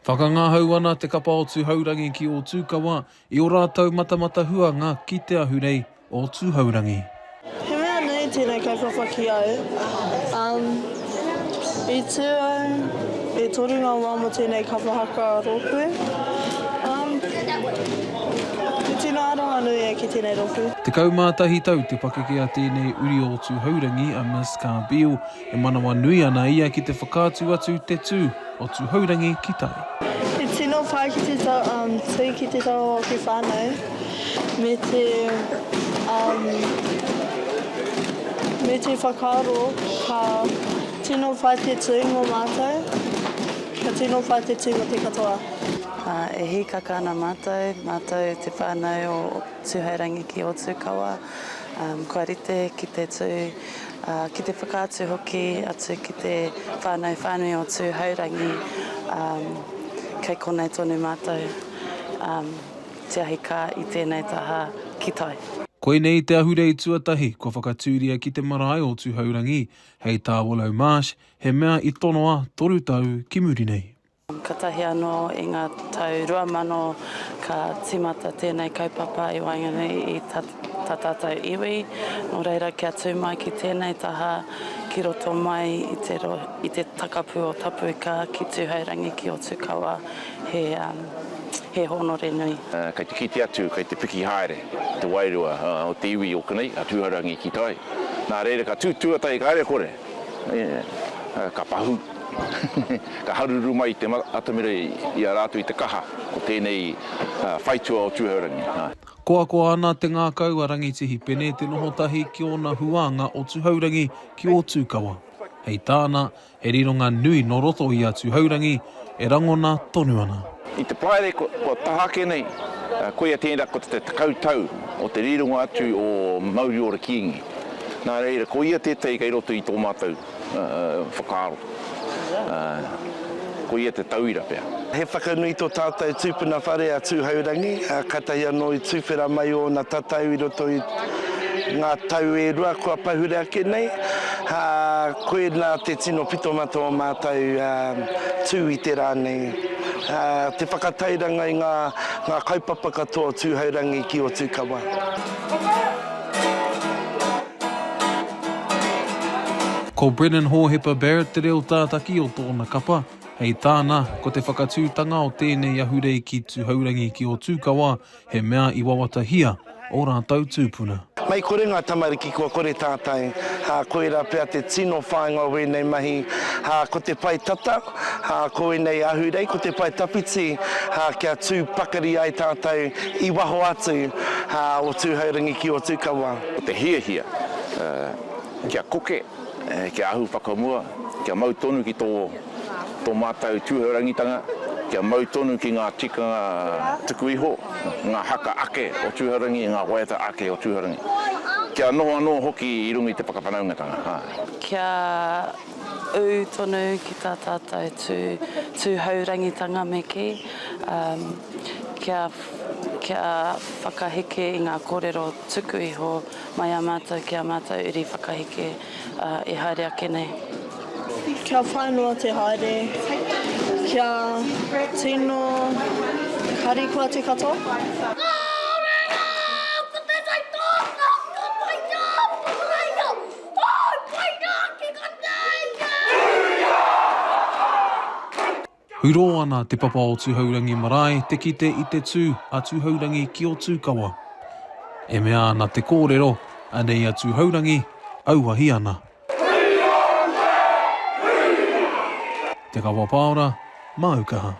Whakangahau ana te kapa o Tuhaurangi ki Ōtūkawa i ō rātou matamata huanga ki Te Ahurei o Tuhaurangi. He mea nui tēnei kaupapa ki au. I tū au e toru ngā wā mō tēnei kapa haka rōpū. He tino aronga nui e ki tēnei rōpū. Tekau mā tahi tau te pakeke a tēnei uri o Tuhaurangi, a Miss. Ka Bill, e manawa nui ana ia ki te whakaatu atu te tū o Tūhourangi ki tai. He tino pai ki te tū ki te taha o te whānau me te me te whakaaro ka tino pai te tū mō mātou, ka tino pai te tū mō te katoa. E hīkaka ana mātou, mātou te whānau o Tūhourangi ki Ōtūkawa, kua rite ki te tū. ā, ki te whakaatu hoki atu ki te whānau whānui o Tūhourangi, ā, kei konei tonu mātou, ā, te ahi kā i tēnei taha ki tai. Koinei te ahurei tuatahi kua whakatūria ki te marae o Tūhourangi, hei tā Willow Marsh, he mea i tonoa toru tau ki muri nei. Katahi anō i ngā tau rua mano ka timata tēnei kaupapa i waenganui i ta tātou iwi, nō reira kia tū mai ki tēnei taha ki roto mai i te takapū o Tapuika ki Tūhourangi ki Otukawa he hōnore nui. Kei te kite atu, kei te piki haere te wairua o te iwi o konei, a Tūhourangi ki tai. Nā reira ka tū tuatahi ka haere kore. Ka pahū, ka haruru mai te atamira i a rātou i te kaha o tēnei whaitua o Tūhourangi. Koakoa ana te ngākau a Rangitihi Pene te noho tahi ki ōna huānga o Tuhourangi ki Ōtūkawa. Hei tāna, he rironga nui nō roto i a Tuhourangi, e rangona tonu ana. I te paere kua taha ake nei, koia tērā ko te tekau tau o te rironga atu o Mauri Ora Kīngi. Nā reira, koia tētahi kei roto i tō mātou whakaaro. Koia te tauira pea. He whakanui tō tātou tūpuna whare a Tūhourangi, kātahi anō i tuwhera mai ōna tatau i roto i. Ngā tau e rua kua pahure ake nei, ā, koinā te tino pito ma tō mātou tū i te rā nei. Te whakatairanga i ngā kaupapa katoa o Tūhourangi ki Otukawa. Ko Brennan Hōhepa Barrett te reo tātaki o tōna kapa. Hei tāna, ko te whakatūtanga o tēnei ahurei ki Tūhourangi ki Otukawa He mea i wawatahia ō rātou tūpuna. Mei kore ngā tamariki kua kore tātai, ā, koirā pea te tino whāinga o ēnei mahi, ā, ko te pae tata, ā, ko ēnei ahurei, ko te pae tawhiti, ā, kia tū pakari ai tātou i waho atu, ā, o Tūhourangi ki Ōtūkawa. Ko te hiahia, ā, kia koke, ā, kia ahu whakamua, kia mau tonu ki tō. tō mātou tūhourangitanga kia mau tonu ki ngā tikanga tuku iho, ngā haka ake o tūhourangi, ngā waiata ake o tūhourangi. Kia noho anō hoki i runga i te whakawhanaungatanga. Kia ū tonu ki tā tātou tūhourangitanga me kī, kia whakaheke i ngā kōrero tuku iho. mai a mātou ki a mātou uri whakaheke e haere ake nei. Kia whai noa te haere, kia tino harikoa te katoa. Hurō ana te papa o Tuhourangi marae te kite i te tū a Tuhourangi ki Otūkawa. E mea ana te kōrero, anei a Tuhourangi, auahi ana. Te Kawa Paora, Māu Kaha.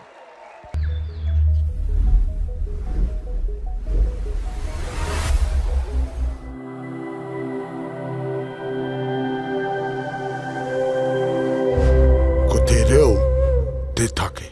Ko te reo te take.